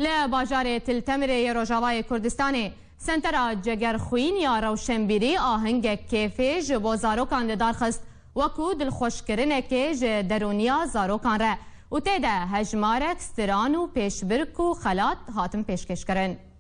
Li bajarê Til Temirê yê Rojavayê Kurdistanê Sentera Cegerxwîn ya Rewşenbîrî ahengek kêfê ji bo zarokan li dar xist wekû dilxweşkirinekê ji derûniya zarokan re û tê de hejmarek stran û pêşbirk û xelat hatin pêşkêşkirin.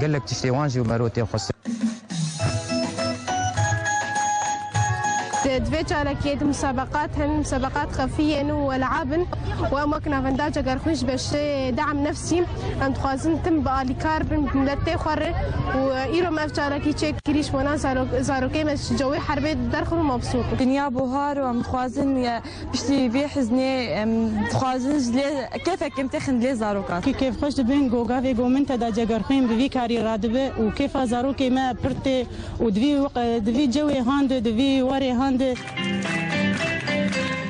Gelek tiştê wan jî mero tê xwestin. Di vê çalakiyê de musabeqat hene, musabeqat xefî yên û welab in û em wek navendaca gerxwîn ji beşê Deam Nefsî em dixwazin tim bi alîkar bin bi miletê xwe re û îro me ev çalakî çêk kirî ji bona zarokê me ji cewê herbê derxin û mabsûr bin. Dinya buhar û em dixwazin Piştî vê hiznê em dixwazin ji lê kêfek kêm têxin lê zarokan. Kê kêfxweş dibin goga vê gominte de cegerxwên bi vî karî radibe û kêfa zarokê me pir tê û di vî cewê handi di vî warê handi.